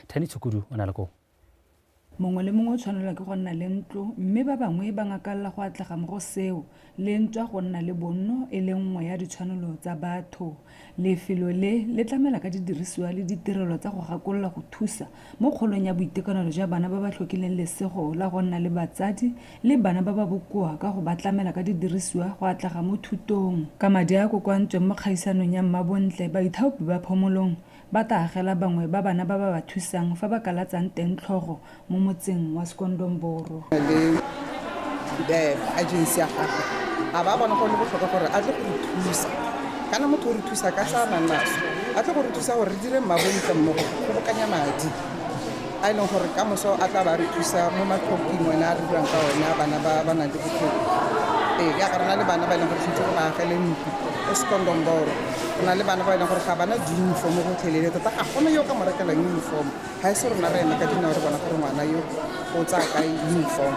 [SPEAKER 1] thani tshukudu o na le koo mongwe le
[SPEAKER 19] mongwe o tshwanelwa ke go nna le ntlo mme ba bangwe ba ngakalela go atlega mo go seo le ntswa go nna le bonno e le nngwe ya ditshwanelo tsa batho lefelo le le tlamela ka didirisiwa le ditirelo tsa go gakolola go thusa mo kgolong ya boitekanelo jwa bana ba ba tlhokileng lesego la go nna le batsadi le bana ba ba bokoa ka go ba tlamela ka didirisiwa go atlega mo thutong ka madi a a kokwantsweng mo kgaisanong ya mmabontle baithaopi ba phomolong Ba tla agela bangwe ba bana ba ba ba thusang fa ba kalatsang teng tlhogo mo motseng wa Skondomboro. Le
[SPEAKER 20] agency ya gagwe a ba bona go le botlhokwa gore a tle go re thusa. Kana motho o re thusa ka tsa a nang naso, a tle go re thusa gore re dire mmabontle mmogo go kgobokanya madi. a e leng gore ka moso a tla ba re thusa mo matlhokong one a re buang ka one a bana ba ba nang le botlhoko ee ya ka rena le bana ba e leng gore tshwanetse go ba agele ntlo o sekondomboro go na le bana ba e leng gore ga bana di-uniform go tlhelele tota ga gona yo ka mo rekelang uniform ga e se rona re eme ka dinao re bona gore ngwana yo o tsaya ka uniform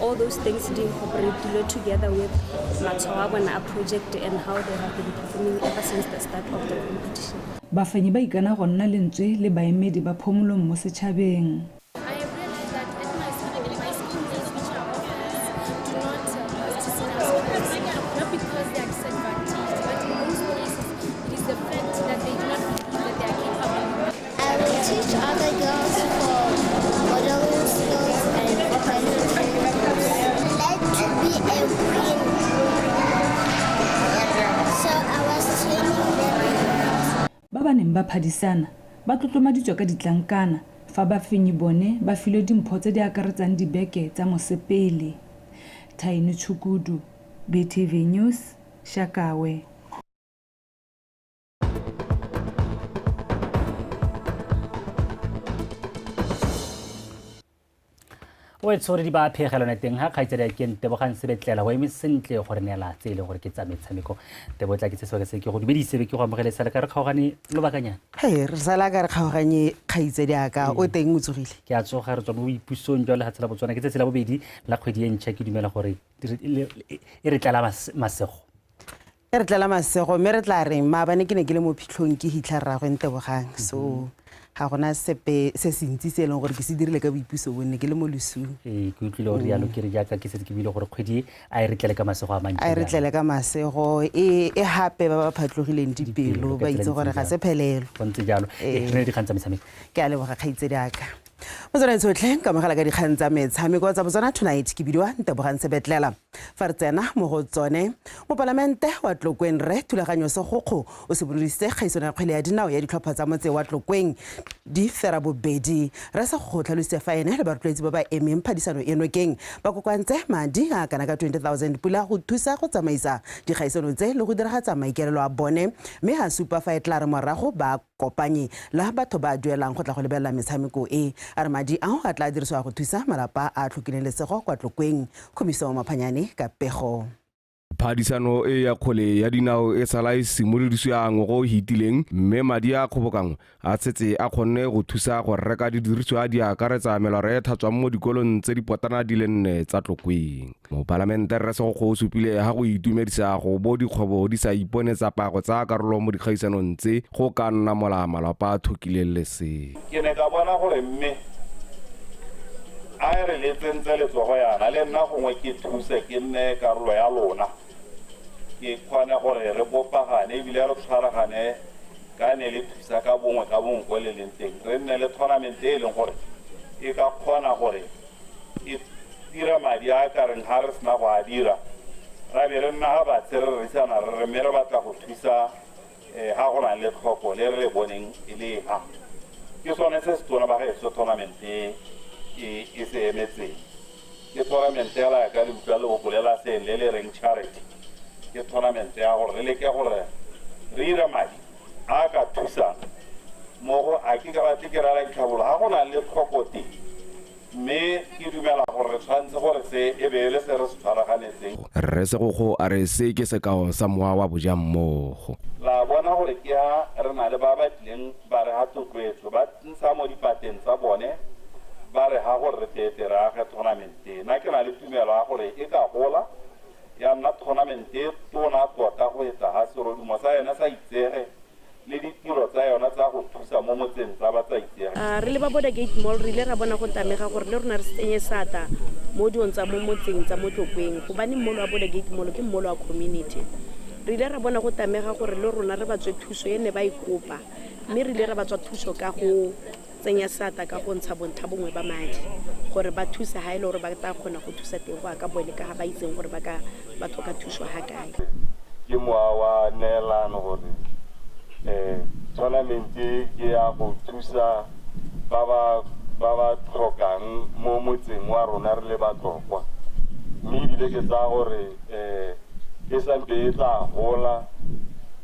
[SPEAKER 16] All those things di incorporate dilo together with matshwao a bona a project and how they have been performing ever since the start of the competition. Bafenyi ba ikana
[SPEAKER 19] go nna lentswe le baemedi ba phomolong mo setšhabeng. Ba ba neng ba phadisana ba tlotlomaditswe ka ditlankana fa bafenyi bone ba filwe dimpho tse di akaretsang dibeke tsa mosepele. Thaini Tshukudu, BTV News, Shakawe.
[SPEAKER 1] o e tshore di ba phegelo ne teng ga kgaitsedi ke ntebogang sebetlela go eme sentle gore neela tse e leng gore ke tsa metshameko tebotla ke se sebaka se ke go dumedise be ke go amogele sala ka re kgaogane lobakanyana he re sala ka
[SPEAKER 20] re kgaoganye kgaitsedi aka o teng o tsogile ke a tsoga re tswa mo
[SPEAKER 1] boipusong jwa lefatshe la botswana ke tsatsi la bobedi la kgwedi e ntšha ke dumela gore e re tlala masego E
[SPEAKER 20] re tlela masego mme re tla reng maabane ke ne ke le mo phitlhong ke hitlha rragwe ntebogang so ga
[SPEAKER 4] gona sepe se se ntsi se e leng gore ke se dirile ka boipuso bonne ke le mo losung ee ke utlwile gore yalo
[SPEAKER 1] ke re jaaka ke setse ke buile gore kgwedi e a e re tlele ka masego a mantsi a e re tlele ka masego
[SPEAKER 4] e e gape ba ba phatlogileng dipelo ba itse gore ga se phelelo go ntse jalo
[SPEAKER 1] Ee. re ne dikgang tsa metshameko ke a leboga kgaitsedi
[SPEAKER 4] aka motswana tshotlhe ka mogala ka dikgang tsa metshameko tsa botswana tonight ke bidiwa ntebogang sebetlela fa re tsena mo go tsone mopalamente wa tlokweng rre thulaganyo segokgo o simolodisitse kgaisano ya kgwele ya dinao ya ditlhopha tsa motse wa tlokweng di fera bobedi re sa go tlhalositse fa ene le barotloetsi ba ba emeng phadisano e nokeng ba kokoantse madi a kana ka 20000 pula go thusa go tsamaisa dikgaisano tse le go diragatsa maikaelelo a bone mme a supa fa e tla re morago ba Kopanye la batho ba duelang go tla go lebelela metshameko e, a re madi ao a tla dirisiwa go thusa malapa a a tlhokileng lesego kwa Tlokweng. Kgomiso Maphanyane ka pego. Phadisano
[SPEAKER 5] e ya kgwele ya dinao e sala e simolodisiwa ngwaga o hitileng mme madi a kgobokanngwe a setse a kgonne go thusa go reka didiriswa di akaretsa melora e tlhatswang mo dikolong tse dipotana di le nne tsa Tlokweng. Mopalamente Rre Segokgo o supile ha go itumedisa go bo dikgwebo di sa ipone tsa pa go tsaya karolo mo dikgaisanong tse go ka nna mola malapa a thokileng le se. Ke ne ka bona gore
[SPEAKER 17] mme a e re le tsentse letsogo yana le nna gongwe ke thuse ke nne karolo ya lona ke kgone gore re bopagane ebile re tshwaragane ka ne le thusa ka bongwe ka bongwe ko le leng teng re nne le tournament e e leng gore e ka kgona gore ke dira madi a ka reng ga re sena go a dira ra be re nna ga batse re rerisana re re mme re batla go thusa um ga go na le tlhoko le re le boneng e le ha ke sone se se tona ba gaetso tournament e e e se emetseng ke tournament ya la ka le utlwa le bolela seng le le reng charity ke tournament ya gore re leke gore re ire madi a a ka thusang mo go a ke ka ba tle ke raya ditlhabolo ga go na le tlhokote mme ke dumela gore re tshwanetse gore se e be e le se re se tshwaraganetseng. Rre Segokgo
[SPEAKER 5] a re se ke sekao sa mowa wa bojammogo. La bona gore
[SPEAKER 17] ke ha re na le ba ba tlileng ba re ha thotloetso ba ntsha mo dipateng tsa bone ba re ha gore re teetere age thonamente na ke na le tumelo ya gore e ka gola. ya nna thonamente e tona tota go etsa ga serodumo sa yone sa itsege le ditiro tsa yona tsa go thusa mo motseng tsa ba tsa itsege. A re le ba Border Gate
[SPEAKER 3] Mall re ile ra bona go tamega gore le rona re tsenye seatla mo diong tsa mo motseng tsa mo Tlokweng gobane mmolo wa Border Gate Mall ke mmolo wa community. Re ile ra bona go tamega gore le rona re ba tswe thuso e ne ba e kopa mme re ile ra ba tswa thuso ka go tsenya seata ka go ntsha bontlha bongwe ba madi gore ba thusa ha e le gore ba tla kgona go thusa teng go aka boele ka ga ba itseng gore ba ka ba tlhoka thuso ha kae ke moa
[SPEAKER 17] wa neelano gore um tournament e ke ya go thusa ba ba ba ba tlhokang mo motseng wa rona re le batlokwa mme ebile ke tsaya gore um e sampe e tla gola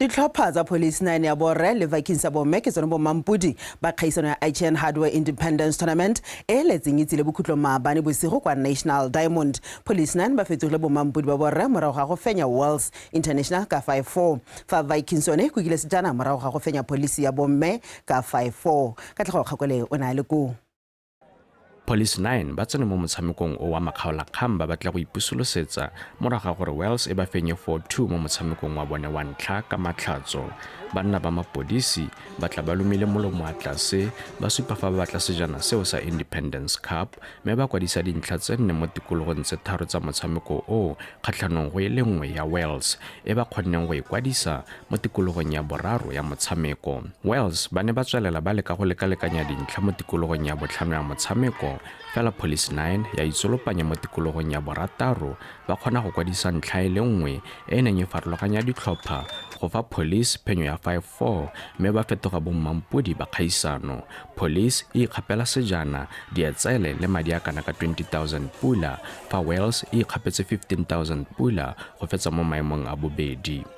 [SPEAKER 4] ditlhopha tsa police nine ya borre le vikings ya bomme ke tsone bommampodi ba kgaisano ya ign hardware independence tournament e letseng itsile bokhutlong maabane bosigo kwa national diamond police nine ba fetsogile bommampodi ba borre morago ga go fenya wells international ka 5 4 fa vikings yone e kukile sejana morago ga go fenya police ya bomme ka 5 4 ka tlhago kgakole o ne a le koo
[SPEAKER 22] Police 9 ba tsene mo motshamekong o wa makgaolakgang ba batla go ipusolosetsa morago ga gore Wells e ba fenye 4-2 mo motshamekong wa bone wa ntlha ka matlhatso. Banna ba mapodisi ba tla ba lumile molomo wa tlase ba supa fa ba batla sejana seo sa Independence Cup mme ba kwadisa dintlha tse nne mo tikologong tse tharo tsa motshameko o kgatlhanong go e le nngwe ya Wells e ba kgonneng go e kwadisa Mo tikologong ya boraro ya motshameko, Wales ba ne ba tswelela ba leka go lekalekanya dintlha mo tikologong ya botlhano ya motshameko, fela Police Nine ya itsolopanya mo tikologong ya borataro ba kgona go kwadisa ntlha e le nngwe e e neng e farologanya ditlhopha go fa Police phenyo ya 5-4 mme ba fetoga bommampodi ba kgaisano. Police e ikgapela sejana, dietsele le madi a kana ka R20,000 fa Wales e ikgapetse R15,000 go fetsa mo maemong a bobedi.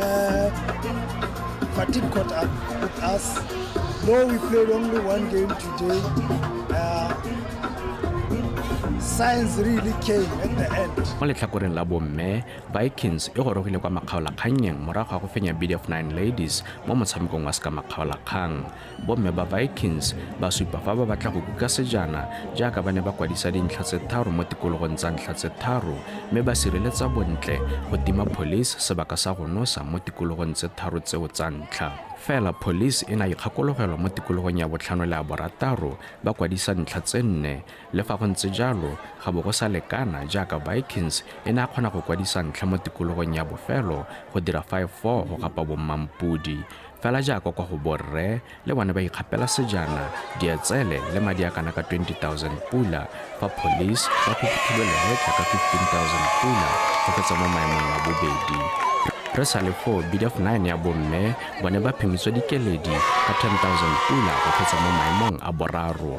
[SPEAKER 6] Uh, fatigue caught up with us. Though we played only one game today, uh, science really came at the end. mo letlhakoreng la
[SPEAKER 22] bomme vikings e gorogile kwa makgaolakgannyeng morago ga go fenya bdf 9 ladies mo motshamekong wa seka makgaolakgang Bomme ba Vikings ba supa fa ba batla go kuka sejana jaaka ba ne ba kwadisa dintlha tse tharo mo tikologong tsa ntlha tse tharo mme ba sireletsa bontle go tima Police sebaka sa go nosa mo tikologong tse tharo tseo tsa ntlha. Fela Police e ne a ikgakologelwa mo tikologong ya botlhano le ya borataro ba kwadisa ntlha tse nne. Le fa go ntse jalo, ga bo go sa lekana jaaka Vikings e ne a kgona go kwadisa ntlha mo tikologong ya bofelo go dira 5-4 go gapa bommampodi. Fela jaaka kwa go borre, le bone ba ikgapela sejana, dietsele le madi a kana ka 20 000 pula fa police ba khukhuthulo lehetla ka 15 000 pula go fetsa mo maemong a bobedi. Re sa le foo, bid of nine ya bomme bone ba phimitswa dikeledi ka 10 000 pula go fetsa mo maemong a boraro.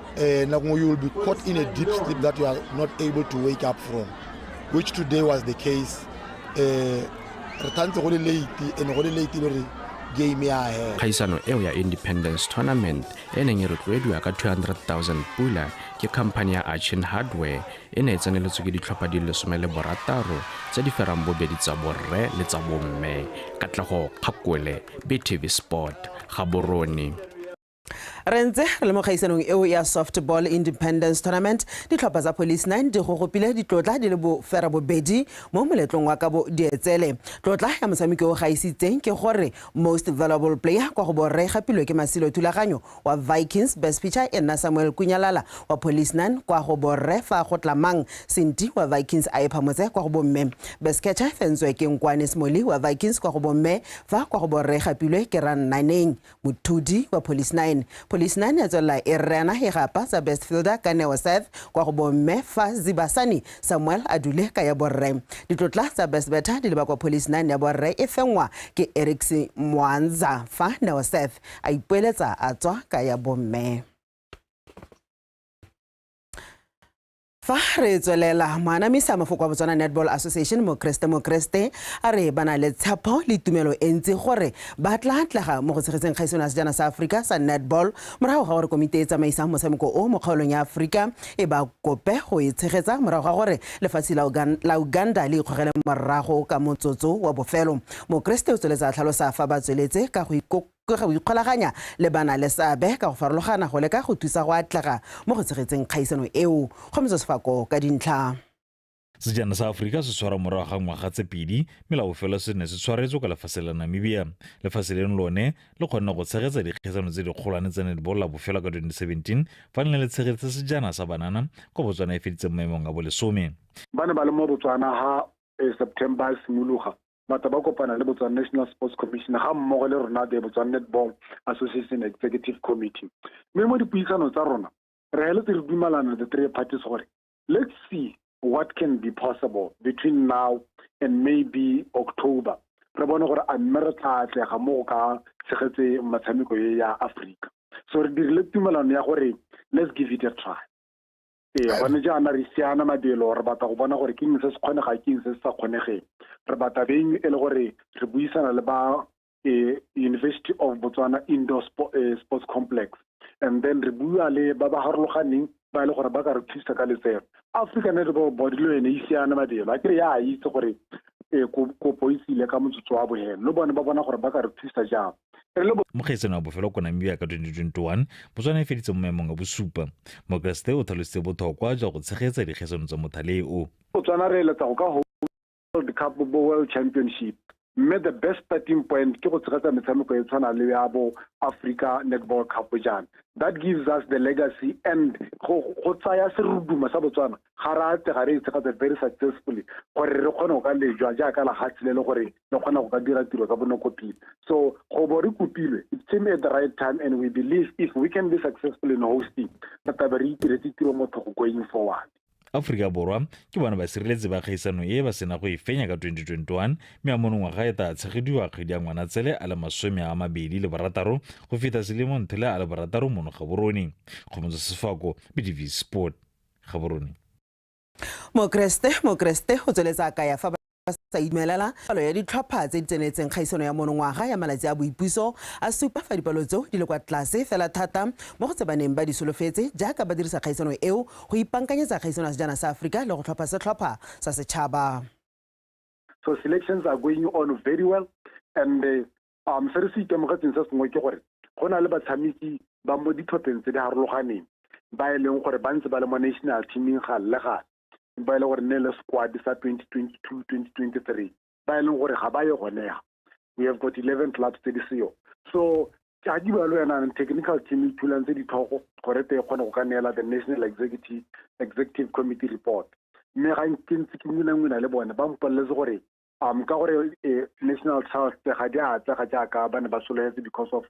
[SPEAKER 7] Eh, Nakungu, you will be caught in a deep sleep that you are not able to wake up from, which today was the case. Eh, re tshwanetse go le late and go le late
[SPEAKER 22] le re game ya hela kgaisano eo ya independence tournament e neng e rotloediwa ka 200,000 pula ke khamphani ya achin hardware e ne e tseneletswe ke ditlhopha di lesome le borataro tse di ferang bobedi tsa borre le tsa bomme katlego kgakole btv sport gaborone
[SPEAKER 4] re ntse re le mo gaisanong eo ya softball independence tournament ditlhopha tsa police nine di gogopile ditlotla di le bofera bobedi mo moletlong wa kabo dietsele tlotla ya motshameki o gaisitseng ke gore most valuable player kwa go borre gapilwe ke masilo thulaganyo wa vikings best pitcher e nna samuel kunyalala wa police nine kwa go borre fa go tlamang senti wa vikings a ephamotse kwa go bomme best catcher fentswe ke nkwane smoli wa vikings kwa go bomme fa kwa go borre gapilwe ke rannaneng Mothudi wa Police 9. Police 9 ya tswelela e rena e gapa sa best fielder ka Neo Seth kwa go bomme fa Zibasani Samuel a dule ka ya borre. Ditlotla tsa best better di leba kwa Police 9 ya borre e fengwa ke Erics Mwanza fa Neo Seth a ipoeletsa a tswa ka ya bomme. Fa re tswelela, moanamisi a mafoko wa Botswana Netball Association Mokreste Mokreste a re ba na le tshepo le tumelo e ntsi gore ba tla tlega mo go tshegetseng kgaisano ya sejana sa Aforika sa netball morago ga gore komiti e e tsamaisang motshameko o mo kgaolong ya Aforika e ba kope go e tshegetsa morago ga gore lefatshe la Uganda le ikgogele morago ka motsotso wa bofelo. Mokreste o tsweletse a tlhalosa fa ba tsweletse ka go ka go ikgolaganya le banaleseabe ka go farologana go leka go thusa go atlega mo go tshegetseng kgaisano eo. Kgometso Sefako ka dintlha. Sejana
[SPEAKER 9] sa Aforika se tshwarwa morago ga ngwaga tse pedi mme la bofelo se ne se tshwaretswe kwa lefase la Namibia. Lefase leno lone le kgonne go tshegetsa dikgaisano tse dikgolwane tsa netball la bofelo ka 2017 fa le ne le tshegetse sejana sa banana kwa Botswana e feditseng maemong a bolesome. Ba ne ba le mo
[SPEAKER 25] Botswana ha September e simologa. batla ba kopana le botswana national sports commission ga mmogo le rona the botswana netball association executive committee mme mo dipuisano tsa rona re heletse re dumalana the three parties gore let's see what can be possible between now and maybe october re bone gore a mme re tla atlega mo go ka tshegetse metshameko e ya aforika so re dirile tumelano ya gore let's give it a try ee gone jaana re siana mabelo re batla go bona gore ke eng se se kgonega ke eng se se sa kgonegeng re batla beng e le gore re buisana le ba e, university of botswana indoor e, sports complex and then re bua le ba ba harologaneng ba e le gore ba ka re thusa ka letseno african netball body le yone e siana mabelo a kere ya itse gore e, kopo e tsile ka motsotso wa bohelo le bone ba bona gore ba ka re thusa jang re le mo kgetseng wa
[SPEAKER 9] bofelo ko namibia ka 2021 botswana e feditse mo maemong a bosupa mokeresete o tlhalositse
[SPEAKER 25] bothokwa
[SPEAKER 9] jwa go
[SPEAKER 25] tshegetsa
[SPEAKER 9] dikgaisano tsa mothale o botswana
[SPEAKER 25] re
[SPEAKER 9] eletsa go ka world
[SPEAKER 25] cup bo world championship mme the best starting point ke go tshegetsa metshameko e tshwana le ya bo africa netball cup jana that gives us the legacy and go tsaya seruduma sa botswana ga re atlega re e tshegetsa very successfully gore re kgone go ka lejwa jaaka lehatshe le le gore re kgona go ka dira tiro ka bonako pele so go bo re kopilwe it came at the right time and we believe if we can be successful in hosting re tlabe re itiretse tiro motho go going forward aforika borwa
[SPEAKER 9] ke bona basireletsi ba kgaisano e ba sena go e fenya ka 2021 mme a mono ngwaga e tla tshegediwa kgwedi ya ngwanatsele a le masome a mabedi le barataro go feta selemo nthele a le barataro mono gaborone kgomotso sefako bdv sport gaborone
[SPEAKER 4] Mokeresete, Mokeresete o tsweletsa a kaya fa ba sa imelela palo ya ditlhopha tse di tsenetseng kgaisano ya monongwaga ya malatsi a boipuso a supa fa dipalo tseo di le kwa tlase fela thata mo go tse ba neng ba di solofetse jaaka ba dirisa kgaisano eo go ipankanyetsa kgaisano ya sejana sa Aforika le go tlhopha setlhopha sa setšhaba.
[SPEAKER 25] So selections are going on very well and uh, um se re se itemogetseng se sengwe ke gore go na le batshameki ba mo ditlhopheng tse di harologaneng ba e leng gore ba ntse ba le mo national teaming ga le gale ba e leng gore ne le squad sa 2022 2023 ba e leng gore ga ba ye gonega we have got 11 clubs tse di seyo so a di balo yanang technical team e thulang tse ditlhogo gore te e kgone go ka neela the national executive executive committee report mme ga ke ntse ke ngwinangwina le bone ba mpoleletse gore um ka gore eh, national trust ga di a atlega jaaka ba ne ba sologetse because of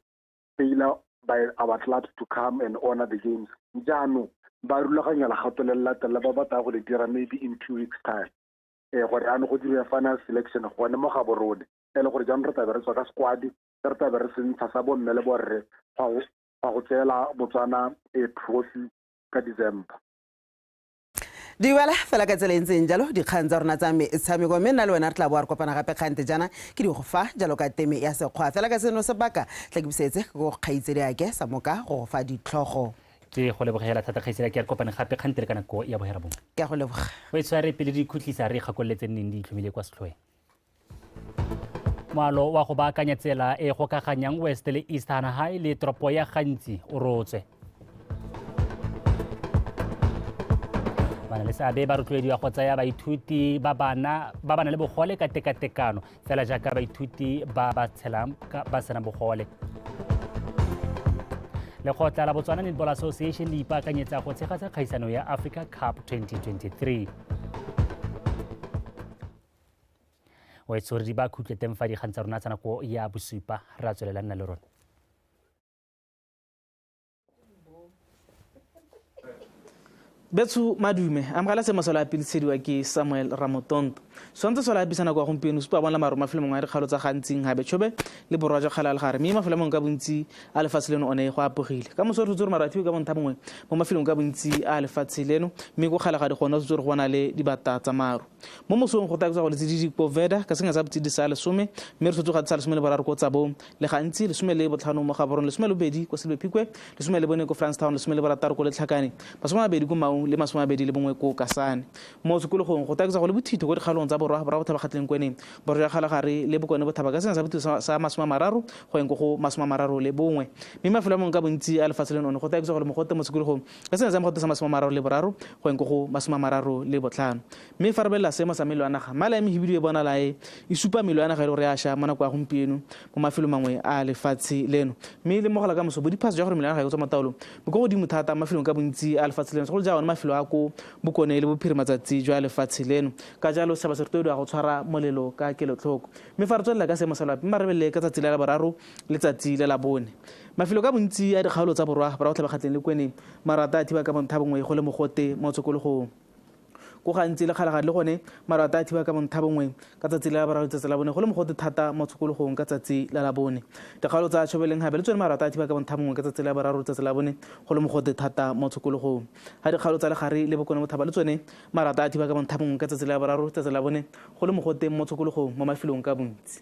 [SPEAKER 25] failure by our clubs to come and honor the games jaanong ba rulaganya legato le le latelela ba batla go le dira maybe in two weeks time um gore ano go diriwa final selection gone mo ga borone e le gore jaanong re tlabe re tswa ka sekwadi se re tlabe re sentsha sa bomme le borre fa go tseela botswana a eh, trophy ka december
[SPEAKER 4] di bala fela ka tsela e ntseng jalo dikgang tsa rona tsa metshameko mme nna le wena re tla boa re kopana gape kgante jana ke di go fa jalo ka teme ya sekgwa fela ka seno sebaka tla ke busetse ke go kgaitsedi ake sa moka go go fa ditlhogo ke go lebogela
[SPEAKER 1] thata kgaitsedi ake re kopane gape kgante le ka nako ya bohera bongwe ke a go leboga o e
[SPEAKER 4] tshware pele di
[SPEAKER 1] ikhutlisa re ikgakololetseng neng di itlhomile kwa setlhoeng moalo wa go baakanya tsela e gokaganyang west le east hanagai le toropo ya gantsi o rotswe bana le seabe ba rotloediwa go tsaya baithuti ba bana ba bana le bogole ka tekatekano fela jaaka baithuti ba ba tshelang ba sena bogole lekgotla la botswana netball association le ipaakanyetsa go tshegatsa kgaisano ya africa cup 2023 o etse gore di ba khutle teng fa dikgang tsa rona tsa nako ya bosupa re a tswelela nna le rona
[SPEAKER 10] betsho madume amogela se mosola a pilisediwa ke samuel ramotonto swantse sola a bisa nako ya gompieno supa bona maro mafelo mongwe a dikgalo tsa gantsing gabe tshobe le borwa jwa kgala le gare mme mafelo mongwe ka bontsi a lefatshe leno one go apogile ka moso re tshotse gore maro a fiwe ka bontha bongwe mo mafelong ka bontsi a lefatshe leno mme ko kgala ga di gone o tshotse gore go na le dibata tsa maro mo mosong go taekotsa go letsididi ko veda ka senya sa botsididi sa lesome mme re sotsoga tsa lesome le boraro ko tsabo le gantsi lesome le botlhano mo gaborong lesome le bobedi ko selbe phikwe lesome le bone ko francetown lesome le borataro ko letlhakane masome a mabedi ko maung le masome a mabedi le bongwe ko kasane mo sekologong go taekotsa go le bothito ko dikgaolong tsa borwa borwa botlhabakgatleng kweneng borwa ya kgalagare le bokone bothaba ka senya sa bothito sa masome a mararo go yeng ko go masome a mararo le bongwe mme mafelo a mongwe ka bontsi a lefatshe leno one go taekotsa go le mogote mo sekologong Ka selemo sa makgotlo sa masome a mararo le boraro go yeng ko go masome a mararo le botlhano. Mme fa re belela seemo sa melo ya naga, mala ya Mehibidu e bonala e e supa melo ya naga e le gore ya sha mo nako ya gompieno mo mafelong mangwe a lefatshe leno. Mme le mo go la kamoso, bodiphatsa jwa gore melo ya naga e tswa mo taolong bo kwa godimo thata mo mafelong ka bontsi a lefatshe leno, segolo ja one mafelo a ko bokone le bophirima-tsatsi jwa lefatshe leno. Ka jalo, setšhaba se rotloediwa go tshwara molelo ka kelotlhoko. Mme fa re tswelela ka seemo sa loapi, mma re belele ka tsatsi la laboraro le tsatsi la labone. Mafelo ka bontsi a dikgaolo tsa borwa bra Botlhabakgatleng le Kweneng marata a thiba ka bonthabongwe go le mogote mo tshokologong. Ko gantsi le Kgalagadi le gone marata a thiba ka bonthabongwe ka tsatsi la laboraro letsatsi la bone go le mogote thata mo tshokologong ka tsatsi la labone. Dikgaolo tsa Tšhobelenghabe le tsone marata a thiba ka bonthabongwe ka tsatsi la boraro letsatsi la bone go le mogote thata mo tshokologong. Ga dikgaolo tsa Legare le Bokone Bothaba le tsone marata a thiba ka bonthabongwe ka tsatsi la boraro letsatsi la bone go le mogote mo tshokologong mo mafelong ka bontsi.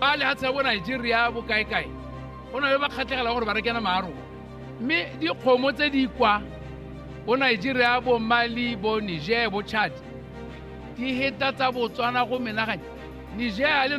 [SPEAKER 11] ba lehatshe ya bo nigeria bokaekae go na le ba kgatlhegelang gore ba rekena maarong mme dikgomo tse di kwa bo nigeria bo mali bo niger bo chad di heta tsa botswana go menaganya niger le